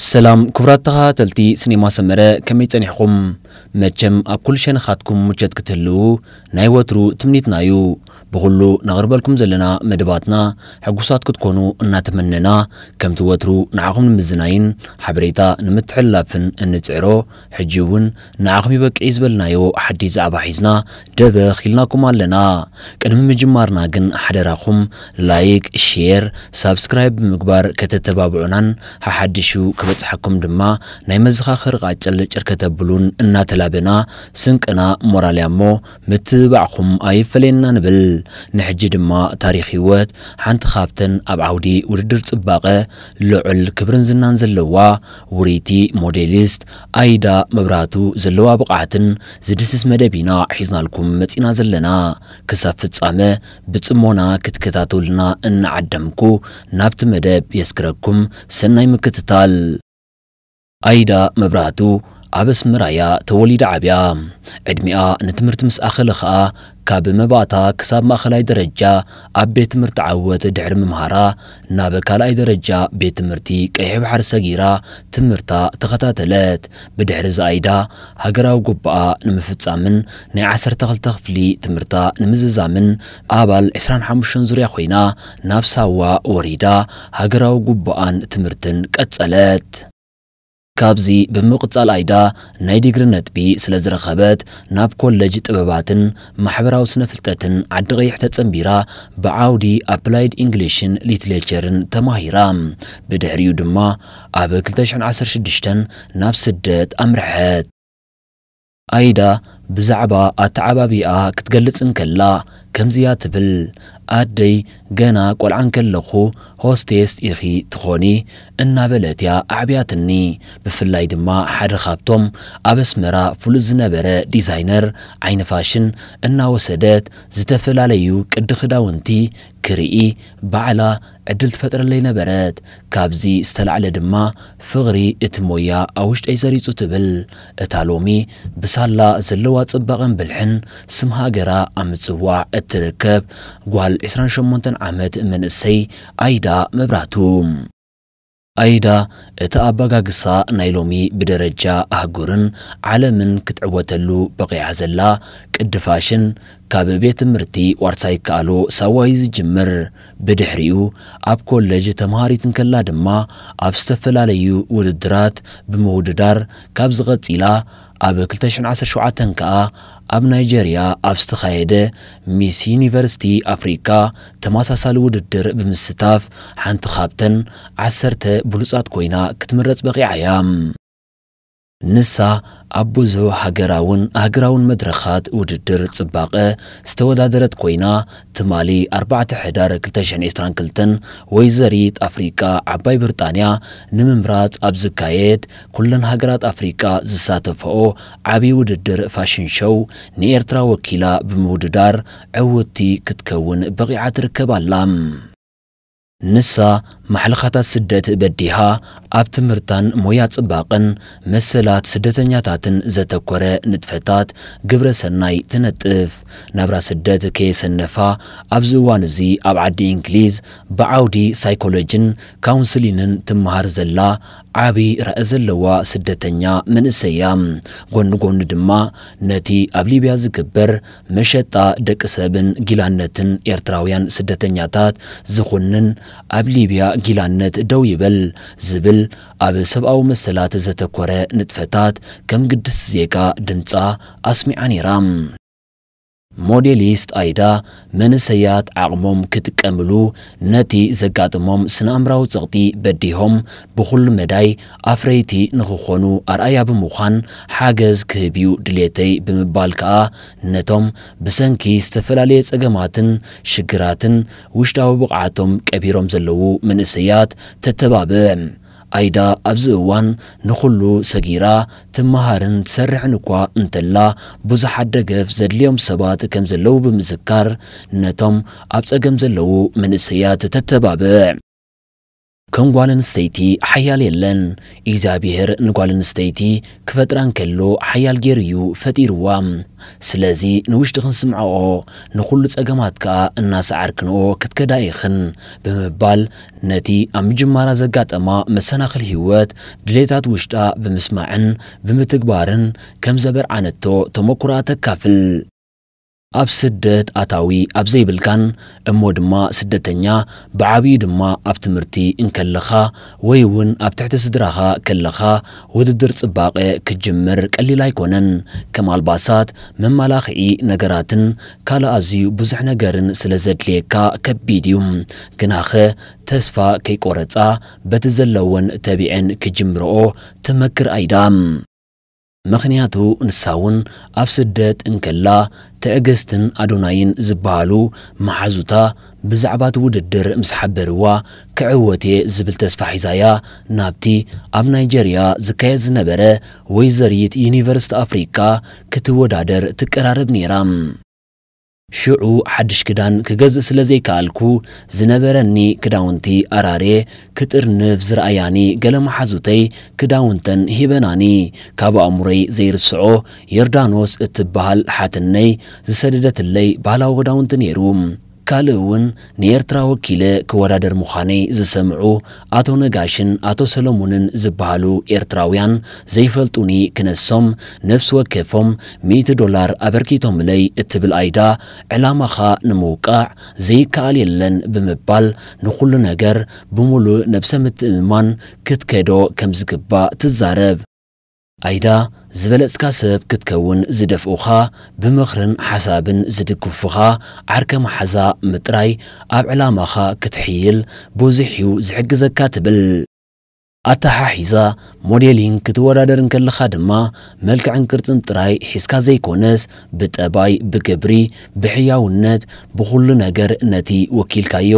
ሰላም ክቡራት ተኻታተልቲ ስኔማ ሰመረ ከመይ ጸኒሕኹም መቸም ኣብ ኩሉ ሸነኻትኩም ሙቸት ክትህልዉ ናይ ወትሩ ትምኒትና እዩ ብኹሉ ነቕርበልኩም ዘለና መደባትና ሕጉሳት ክትኮኑ እናተመነና ከምቲ ወትሩ ንዓኹም ንምዝናይን ሓበሬታ ንምትሕልላፍን እንጽዕሮ ሕጂ ውን ንዓኹም ይበቅዒ ዝበልናዮ ሓዲስ ዛዕባ ሒዝና ደበኽ ኢልናኩም ኣለና ቅድሚ ምጅማርና ግን ሓደራኹም ላይክ ሼር ሳብስክራይብ ብምግባር ከተተባብዑናን ሓሓዲሹ ክበጽሓኩም ድማ ናይ መዘኻኸሪ ቃጭል ጭር ከተብሉን እናተላበና ስንቅና ሞራል ያሞ ምትብባዕኹም ኣይፈለየና ንብል ንሕጂ ድማ ታሪኽ ሂወት ሓንቲ ካብተን ኣብ ዓውዲ ውድድር ጽባቐ ልዑል ክብርን ዝናን ዘለዋ ውርይቲ ሞዴሊስት ኣይዳ መብራህቱ ዘለዋ ብቕዓትን ዝድስስ መደብ ኢና ሒዝናልኩም መጺእና ዘለና። ክሳብ ፍጻመ ብጽሞና ክትከታተሉና እናዓደምኩ ናብቲ መደብ የስግረኩም ሰናይ ምክትታል። ኣይዳ መብራህቱ ኣብ ኣስመራ'ያ ተወሊዳ ዓብያ። ዕድሚኣ ንትምህርቲ ምስ ኣኸለ ከኣ ካብ መባእታ ክሳብ ማእኸላይ ደረጃ ኣብ ቤት ትምህርቲ ዓወት ድሕሪ ምምሃራ ናብ ካልኣይ ደረጃ ቤት ትምህርቲ ቀይሕ ባሕሪ ሰጊራ ትምህርታ ተኸታተለት። ብድሕሪ ዝኣይዳ ሃገራዊ ጉባኣ ንምፍፃምን ናይ ዓሰርተ ክልተ ክፍሊ ትምህርታ ንምዝዛምን ኣባል ዕስራን ሓሙሽተን ዙርያ ኮይና ናብ ሳዋ ወሪዳ ሃገራዊ ጉባኣን ትምህርትን ቀፀለት። ካብዚ ብምቕጻል ኣይዳ ናይ ዲግሪ ነጥቢ ስለ ዝረኸበት ናብ ኮለጅ ጥበባትን ማሕበራዊ ስነ-ፍልጠትን ዓዲ-ቐይሕ ተጸንቢራ ብዓውዲ ኣፕላይድ ኢንግሊሽን ሊትሌቸርን ተማሂራ። ብድሕሪኡ ድማ ኣብ ክልተ ሽሕን ዓሰርተ ሽዱሽተን ናብ ስደት ኣምርሐት። ኣይዳ ብዛዕባ ኣተዓባብያኣ ክትገልጽ እንከላ ከምዚ እያ ትብል፣ ኣደይ ገና ቈልዓ እንከለኹ ሆስቴስ ኢኺ ትዀኒ እናበለት እያ ኣዕብያትኒ። ብፍላይ ድማ ሓደ ካብቶም ኣብ ኣስመራ ፍሉጥ ዝነበረ ዲዛይነር ዓይኒ ፋሽን እናወሰደት ዝተፈላለዩ ቅዲ ክዳውንቲ ክርኢ ባዕላ ዕድል ትፈጥረለይ ነበረት። ካብዚ ዝተላዕለ ድማ ፍቕሪ እቲ ሞያ ኣብ ውሽጠይ ሰሪጹ ትብል እታ ሎሚ ብሳላ ዘለዋ ጽባቐን ብልሕን ስም ሃገራ ኣብ ምጽዋዕ እትርከብ ጓል ዕስራን ሸሞንተን ዓመት መንእሰይ ኣይዳ መብራህቱ። ኣይዳ እቲ ኣባጋግሳ ናይ ሎሚ ብደረጃ ኣህጉርን ዓለምን ክትዕወተሉ በቒዓ ዘላ ቅዲ ፋሽን ካብ ቤት ትምህርቲ ዋርሳይ ይከኣሎ ሳዋ እዩ ዝጅምር። ብድሕሪኡ ኣብ ኮለጅ ተምሃሪት እንከላ ድማ ኣብ ዝተፈላለዩ ውድድራት ብምውድዳር ካብዚ ቀጺላ ኣብ ክልተ ሽሕን ዓሰርተ ሸውዓተን ከኣ ኣብ ናይጀርያ ኣብ ዝተኻየደ ሚስ ዩኒቨርሲቲ ኣፍሪቃ ተመሳሳሊ ውድድር ብምስታፍ ሓንቲ ካብተን ዓሰርተ ብሉጻት ኮይና ክትምረጽ በቒዓ እያ። ንሳ ኣብ ብዙሕ ሃገራውን ኣህግራውን መድረኻት ውድድር ጽባቐ ዝተወዳደረት ኮይና፣ ትማሊ ኣርባዕተ ሕዳር ክልተ ሽሕን ዕስራን ክልተን ወይዘሪት ኣፍሪቃ ዓባይ ብርጣንያ ንምምራጽ ኣብ ዝካየድ ኩለን ሃገራት ኣፍሪቃ ዝሳተፈኦ ዓብዪ ውድድር ፋሽን ሾው ንኤርትራ ወኪላ ብምውድዳር ዕውትቲ ክትከውን በቒዓ ትርከብ ኣላ። ንሳ ማሕለኻታት ስደት በዲሃ ኣብ ትምህርታን ሞያ ጽባቐን መሰላት ስደተኛታትን ዘተኮረ ንጥፈታት ግብረ ሰናይ ትነጥፍ። ናብራ ስደት ከየሰነፋ ኣብዚ እዋን እዚ ኣብ ዓዲ ኢንግሊዝ ብዓውዲ ሳይኮሎጂን ካውንስሊንን ትመሃር ዘላ ዓቢ ራኢ ዘለዋ ስደተኛ መንእሰይ እያ። ጎኒ ጎኒ ድማ ነቲ ኣብ ሊብያ ዝግበር መሸጣ ደቂ ሰብን ጊላነትን ኤርትራውያን ስደተኛታት ዝኹንን ኣብ ሊብያ ጊላነት ደው ይበል ዝብል ኣብ ሰብኣዊ መሰላት ዘተኮረ ንጥፈታት ከም ግድስቲ ዜጋ ድምጻ ኣስሚዓ ነይራ። ሞዴሊስት ኣይዳ፣ መንእሰያት ዓቕሞም ክጥቀምሉ ነቲ ዘጋጥሞም ስነኣእምራዊ ጸቕጢ በዲሆም ብኹሉ መዳይ ኣፍረይቲ ንኽኾኑ ኣርኣያ ብምዃን ሓገዝ ክህብ'ዩ ድሌተይ ብምባል ከኣ ነቶም ብሰንኪ ዝተፈላለየ ጸገማትን ሽግራትን ውሽጣዊ ብቕዓቶም ቀቢሮም ዘለዉ መንእሰያት ተተባብዕ ኣይዳ ኣብዚ እዋን ንኹሉ ሰጊራ ትመሃርን ትሰርሕን እኳ እንተላ፣ ብዙሓት ደገፍ ዘድልዮም ሰባት ከምዘለዉ ብምዝካር፣ ነቶም ኣብ ጸገም ዘለዉ መንእሰያት ተተባብዕ። ከም ጓል ኣንስተይቲ ሓያል የለን። እግዚኣብሄር ንጓል ኣንስተይቲ ክፈጥራ እንከሎ ሓያል ጌሩ እዩ ፈጢርዋ። ስለዚ ንውሽጥኽን ስምዕኦ፣ ንኹሉ ጸገማት ከኣ እናሰዓርክንኦ ክትከዳ ኢኽን ብምባል ነቲ ኣብ ምጅማራ ዘጋጠማ መሰናኽል ህይወት፣ ድሌታት ውሽጣ ብምስማዕን ብምትግባርን ከም ዘበርዓነቶ ተመኩሮኣ ተካፍል። ኣብ ስደት ኣታዊ ኣብ ዘይብልካን እሞ ድማ ስደተኛ ብዓብይኡ ድማ ኣብ ትምህርቲ እንከለኻ ወይ እውን ኣብ ትሕቲ ስድራኻ ከለኻ ውድድር ፅባቐ ክትጅምር ቀሊል ኣይኮነን። ከም ኣልባሳት፣ መመላኽዒ ነገራትን ካልእ ኣዝዩ ብዙሕ ነገርን ስለ ዘድልየካ ከቢድ እዩ። ግናኸ ተስፋ ከይቆረጻ በቲ ዘለወን ተቢዐን ክጅምርኦ ትመክር ኣይዳ። ምኽንያቱ ንሳ እውን ኣብ ስደት እንከላ ትዕግስትን ኣዶናይን ዝበሃሉ መሓዙታ ብዛዕባ'ቲ ውድድር ምስ ሓበርዋ፣ ክዕወት'የ ዝብል ተስፋ ሒዛ'ያ ናብቲ ኣብ ናይጀርያ ዝካየድ ዝነበረ ወይዘሪት ዩኒቨርሲቲ ኣፍሪቃ ክትወዳደር ትቀራረብ ነይራ። ሽዑ ሓድሽ ክዳን ክገዝእ ስለ ዘይከኣልኩ፣ ዝነበረኒ ክዳውንቲ ኣራርየ ክጥርንፍ ዝረኣያኒ ገለ መሓዙተይ ክዳውንተን ሂበናኒ። ካብ ኣእምሮይ ዘይርስዖ ዮርዳኖስ እትበሃል ሓትነይ ዝሰደደትለይ ባህላዊ ክዳውንቲ ነይሩ። ካልእ እውን ንኤርትራ ወኪለ ክወዳደር ምዃነይ ዝሰምዑ ኣቶ ነጋሽን ኣቶ ሰለሙንን ዝበሃሉ ኤርትራውያን ዘይፈልጡኒ ክነሶም ነብሲ ወከፎም ሚእቲ ዶላር ኣበርኪቶምለይ እትብል ኣይዳ ዕላማኻ ንምውቃዕ ዘይከኣል የለን ብምባል ንኹሉ ነገር ብሙሉእ ነብሰ ምትእምማን ክትከዶ ከምዝግባእ ትዛረብ። ኣይዳ፣ ዝበለጽካ ሰብ ክትከውን ዝደፍኡኻ፣ ብምኽርን ሓሳብን ዝድግፉኻ ዓርከ መሓዛ ምጥራይ ኣብ ዕላማኻ ክትሕይል ብዙሕ'ዩ ዝሕግዘካ ትብል። ኣተሓሒዛ ሞዴሊንግ ክትወዳደር እንከለኻ ድማ መልክዕን ቅርጽን ጥራይ ሒዝካ ዘይኮነስ ብጠባይ፣ ብግብሪ፣ ብሕያውነት፣ ብኹሉ ነገር ነቲ ወኪልካዮ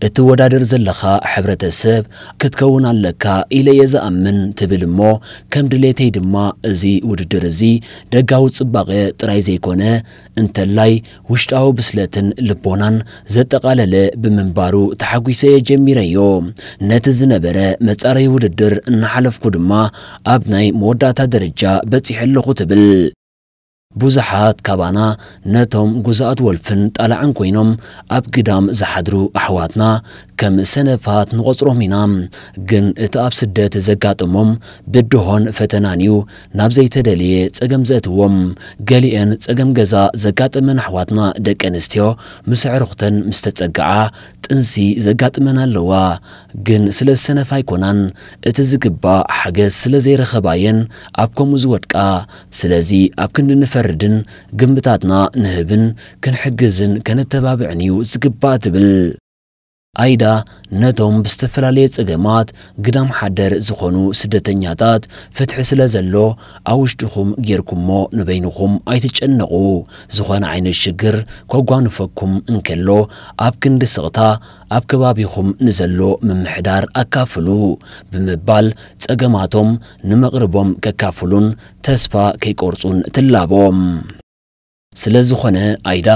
እትወዳደር ዘለኻ ሕብረተሰብ ክትከውን ኣለካ ኢለ እየ ዝኣምን ትብል እሞ ከም ድሌተይ ድማ እዚ ውድድር እዚ ደጋዊ ጽባቐ ጥራይ ዘይኮነ እንተላይ ውሽጣዊ ብስለትን ልቦናን ዘጠቓለለ ብምንባሩ ተሓጒሰ እየ ጀሚረዮ። ነቲ ዝነበረ መፃረዪ ውድድር እናሓለፍኩ ድማ ኣብ ናይ መወዳእታ ደረጃ በፂሐ ኣለኹ ትብል። ብዙሓት ካባና ነቶም ጉዛኣት ወልፍን ጣላዕን ኮይኖም ኣብ ግዳም ዝሓድሩ ኣሕዋትና ከም ሰነፋት ንቖፅሮም ኢና። ግን እቲ ኣብ ስደት ዘጋጥሞም ብድሆን ፈተናን እዩ ናብ ዘይተደልየ ጸገም ዘእትዎም፣ ገሊኤን ጸገም ገዛ ዘጋጠመን ኣሕዋትና ደቂ ኣንስትዮ ምስ ኣዕሩኽተን ምስ ተጸግዓ ጥንሲ ዘጋጥመን ኣለዋ ግን ስለ ዝሰነፋ ኣይኮናን እቲ ዝግባእ ሓገዝ ስለ ዘይረኸባ እየን ኣብ ከምኡ ዝወድቃ ስለዚ ኣብ ክንዲ ንፈርድን ግምታትና ንህብን ክንሕግዝን ከነተባብዕን እዩ ዝግባእ ትብል። ኣይዳ ነቶም ብዝተፈላለየ ጸገማት ግዳም ሓደር ዝኾኑ ስደተኛታት ፍትሒ ስለ ዘሎ ኣብ ውሽጥኹም ጌርኩሞ ንበይንኹም ኣይትጨነቑ ዝኾነ ዓይነት ሽግር ከጓንፈኩም እንከሎ ኣብ ክንዲ ስቕታ ኣብ ከባቢኹም ንዘሎ ምምሕዳር ኣካፍሉ ብምባል ጸገማቶም ንመቕርቦም ከካፍሉን ተስፋ ከይቆርጹን ትላቦም። ስለዝኾነ ኣይዳ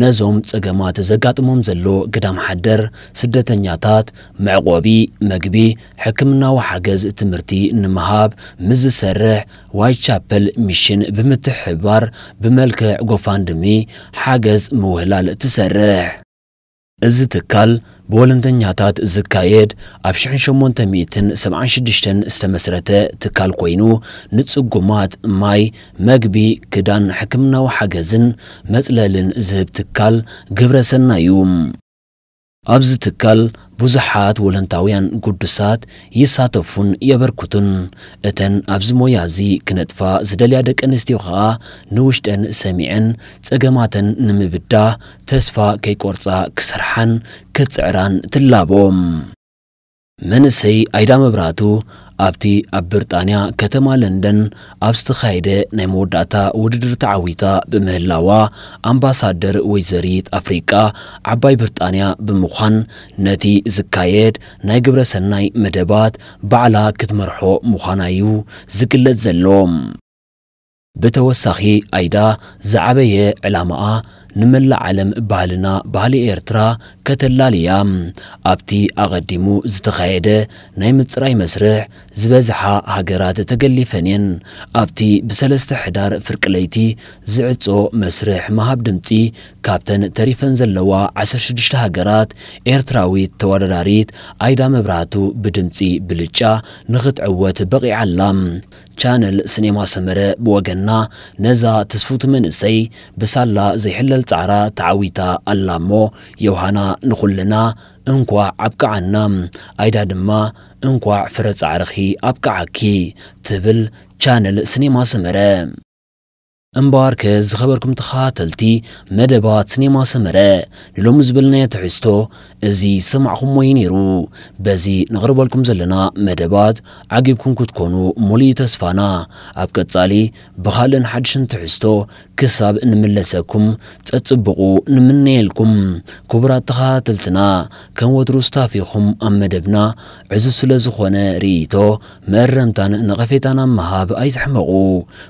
ነዞም ፀገማት ዘጋጥሞም ዘሎ ግዳም ሓደር ስደተኛታት መዕቖቢ፣ ምግቢ፣ ሕክምናዊ ሓገዝ፣ ትምህርቲ ንምሃብ ምስ ዝሰርሕ ዋይት ቻፐል ሚሽን ብምትሕብባር ብመልክዕ ጎፋንድሚ ሓገዝ ምውህላል ትሰርሕ። እዚ ትካል ብወለንተኛታት ዝካየድ ኣብ ሽሕን ሸሞንተ ሚእትን ሰብዓን ሽዱሽተን ዝተመስረተ ትካል ኮይኑ ንጽጉማት ማይ፣ መግቢ፣ ክዳን፣ ሕክምናዊ ሓገዝን መጽለልን ዝህብ ትካል ግብረ ሰናይ እዩ። ኣብዚ ትካል ብዙሓት ወለንታውያን ግዱሳት ይሳተፉን የበርክቱን። እተን ኣብዚ ሞያ እዚ ክነጥፋ ዝደልያ ደቂ ኣንስትዮ ከኣ ንውሽጠን ሰሚዐን ጸገማተን ንምብዳህ ተስፋ ከይቆርጻ ክሰርሓን ክጽዕራን ትላቦ። መንእሰይ ኣይዳ መብራህቱ ኣብቲ ኣብ ብርጣንያ ከተማ ለንደን ኣብ ዝተኻየደ ናይ መወዳእታ ውድድር ተዓዊታ ብምህላዋ ኣምባሳደር ወይዘሪት ኣፍሪቃ ዓባይ ብርጣንያ ብምዃን ነቲ ዝካየድ ናይ ግብረ ሰናይ መደባት ባዕላ ክትመርሖ ምዃና'ዩ ዝግለጽ ዘሎ። ብተወሳኺ ኣይዳ ዝዓበየ ዕላማኣ ንመላእ ዓለም ባህልና ባህሊ ኤርትራ ከተላሊ እያ። ኣብቲ ኣቐዲሙ ዝተኻየደ ናይ ምጽራይ መስርሕ ዝበዝሓ ሃገራት ተገሊፈን እየን። ኣብቲ ብሰለስተ ሕዳር ፍርቂ ለይቲ ዝዕጾ መስርሕ ምሃብ ድምጺ ካብተን ተሪፈን ዘለዋ ዓሰርተ ሽዱሽተ ሃገራት ኤርትራዊት ተወዳዳሪት ኣይዳ መብራህቱ ብድምጺ ብልጫ ንኽትዕወት በቒዓ ኣላ። ቻነል ስኔማ ሰመረ ብወገና ነዛ ትስፍውቲ መንእሰይ ብሳላ ዘይሕለል ጻዕራ ተዓዊታ ኣላ እሞ ዮውሃና ንኹልና እንኳዕ ኣብቅዓና ኣይዳ ድማ እንኳዕ ፍረ ጻዕርኺ ኣብቅዓኪ ትብል ቻነል ስኔማ ሰመረ እምበኣርከ ዝኸበርኩም ተኸታተልቲ መደባት ስኔማ ሰመረ፣ ንሎሚ ዝበልናዮ ትሕዝቶ እዚ ዝሰማዕኹምዎ እዩ ነይሩ። በዚ ነቕርበልኩም ዘለና መደባት ዓጊብኩም ክትኮኑ ሙሉእ እዩ ተስፋና። ኣብ ቀጻሊ ብኻልእን ሓድሽን ትሕዝቶ ክሳብ እንምለሰኩም ጸጽቡቑ ንምነየልኩም። ክቡራት ተኸታተልትና ከም ወትሩ ስታፍ ኢኹም ኣብ መደብና ዕዙዝ ስለዝኾነ ርእይቶ መእረምታን ነቐፌታን ኣብ ምሃብ ኣይትሕመቑ።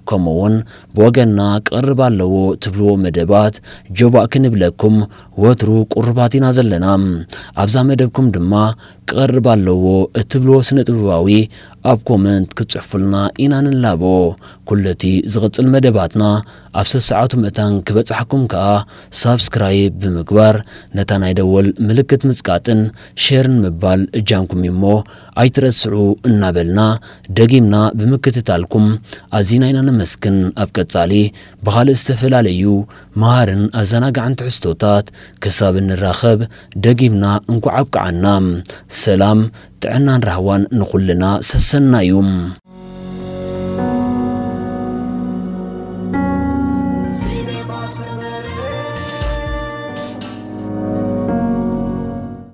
ከምኡ'ውን ብወገንና ክቐርብ ኣለዎ ትብልዎ መደባት ጆባእ ክንብለኩም ወትሩ ቁሩባት ኢና ዘለና። ኣብዛ መደብኩም ድማ ክቐርብ ኣለዎ እትብልዎ ስነ-ጥበባዊ ኣብ ኮመንት ክትጽሕፉልና ኢና ንላቦ። ኩሉ'ቲ ዝቕጽል መደባትና ኣብ ሰሰዓቱ ምእታን ክበጽሓኩም ከኣ ሳብስክራይብ ብምግባር ነታ ናይ ደወል ምልክት ምጽቃጥን ሼርን ምባል እጃምኩም እዩ'ሞ ኣይትረስዑ እናበልና ደጊምና ብምክትታልኩም ኣዚና ኢና ነመስግን። ኣብ ቀጻሊ ብኻልእ ዝተፈላለዩ መሃርን ኣዘናጋዕን ትሕዝቶታት ክሳብ እንራኸብ ደጊምና እንኳዕ ኣብቅዓና። ሰላም ጥዕናን ራህዋን ንኹልና ሰሰናዩ።